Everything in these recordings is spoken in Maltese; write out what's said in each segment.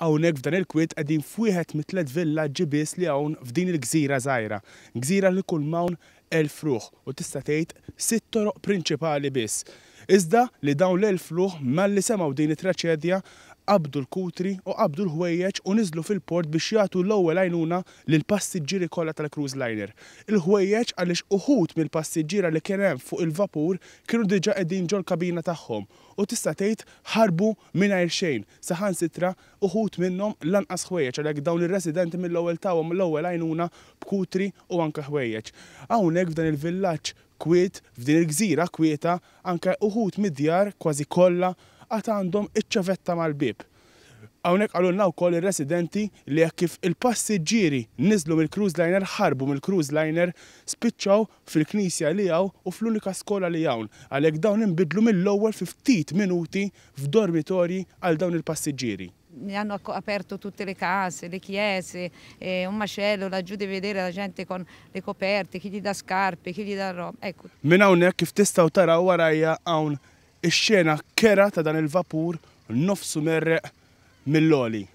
Hawnhekk f'dan il-kwiet qegħdin f'wieħed mit-tliet villaġġi biss li hawn f'din il-gżira żgħira. Gżira li jkun m'hawn elf ruħ u tista' tgħid sitt toroq prinċipali biss. Iżda li dawn l-elf ruħ malli semgħu din it-traċedja qabdu l-kutri u qabdu l-ħwejjeġ u niżlu fil-port biex jagħtu l-ewwel għajnuna lill-passiġġieri kollha tal-cruise liner. Il-ħwejjeġ għaliex uħud mill-passiġġiera li kien hemm fuq il-vapur kienu diġà qegħdin ġol-kabina tagħhom u tista' tgħid ħarbu mingħajr xejn, saħansitra uħud minnhom lanqas ħwejjeġ għalhekk dawn ir-residenti mill-ewwel tawhom l-ewwel għajnuna b'kutri u anke ħwejjeġ. Hawnhekk f'dan il-villaġġ kwiet, f'din il-gżira kwieta, anke uħud mid-djar, kważi kollha, għad għandhom iċ-ċavetta mal-bieb. Hawnhekk qalulna wkoll ir-residenti li hekk kif il-passiġġieri niżlu mill-cruise liner, ħarbu mill-cruise liner, spiċċaw fil-knisja li hawn u fl-unika skola li hawn, għalhekk dawn inbidlu mill-ewwel fi ftit minuti f'dormitorji għal dawn il-passiġġieri. Mi hanno aperto tutte le case, le chiese, è un macello laggiù di vedere la gente con le coperte, chi gli dà scarpe, chi gli dà roba, ecco. Minn hawnhekk kif tistgħu taraw warajja hawn ix-xena kerha ta' dan il-vapur nofsu merreq mill-għoli.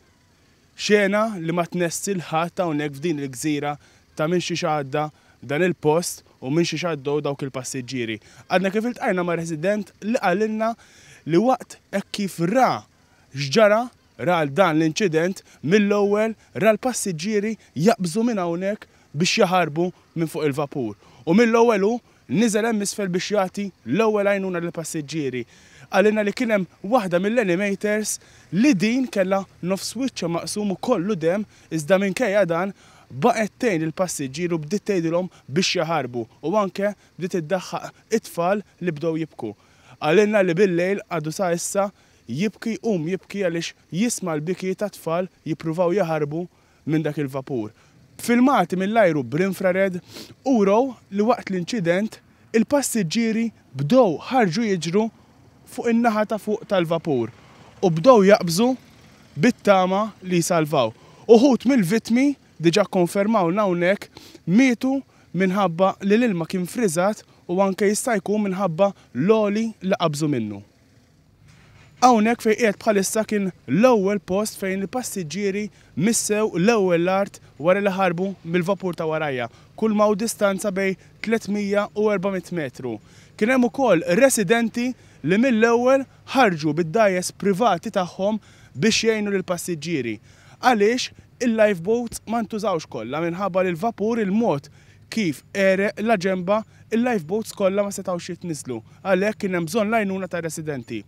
Xena li ma tnessi 'l ħadd hawnhekk f'din il-gżira ta' minn xiex għadda dan il-post u minn xiex għaddew dawk il-passiġġieri. Għadna kif iltqajna ma' resident li qalilna li waqt hekk kif ra x'ġara, ra dan l-inċident, mill-ewwel ra l-passiġġieri jaqbżu minn hawnhekk biex jaħarbu minn fuq il-vapur. U mill-ewwel hu Niżel hemm isfel biex jagħti l-ewwel għajnuna lill-passiġġieri. Qalilna li kien hemm waħda mill-animators li din kellha nofs wiċċha maqsum u kollu demm iżda minkejja dan baqgħet tgħin lill-passiġġieri u bdiet tgħidilhom biex jaħarbu u anke bdiet iddaħħaq it-tfal li bdew jibku. Qalilna li bil-lejl għadu sa issa jibki jqum jibki għaliex jisma' l-biki tat-tfal jippruvaw jaħarbu minn dak il-vapur. Filmati mill-ajru bl-infrared urew li waqt l-inċident, il-passiġġieri bdew ħarġu jiġru fuq in-naħa ta' fuq tal-vapur u bdew jaqbżu bit-tama li jsalvaw. Uħud mill-vittmi, diġà kkonfermawlna hawnhekk, mietu minħabba li l-ilma kien friżat u anke jista' jkun minħabba l-għoli li qabżu minnu. Hawnhekk fejn qiegħed bħalissa kien l-ewwel post fejn il-passiġġieri missew l-ewwel l-art wara li ħarbu mill-vapur ta' warajja, kulma hu distanza bejn 300 u 400 metru. Kien hemm ukoll residenti li mill-ewwel ħarġu bid-dgħajjes privati tagħhom biex jgħinu lill-passiġġieri għaliex Il-lifeboats ma ntużawx kollha minħabba li l-vapur il-mod kif għereq la ġenbha, il-lifeboats kollha ma setgħux jitniżżlu, għalhekk kien hemm bżonn l-għajnuna tar-residenti.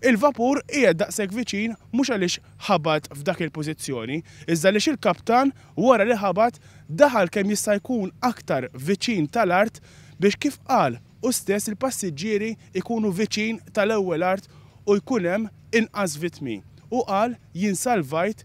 Il-vapur qiegħed daqshekk viċin mhux għaliex ħabat f'dak il-pożizzjoni, iżda għaliex il-kaptan wara li ħabat daħal kemm jista' jkun aktar viċin tal-art biex kif qal hu stess il-passiġġieri jkunu viċin tal-ewwel art u jkun hemm inqas vittmi. Hu qal, Jien salvajt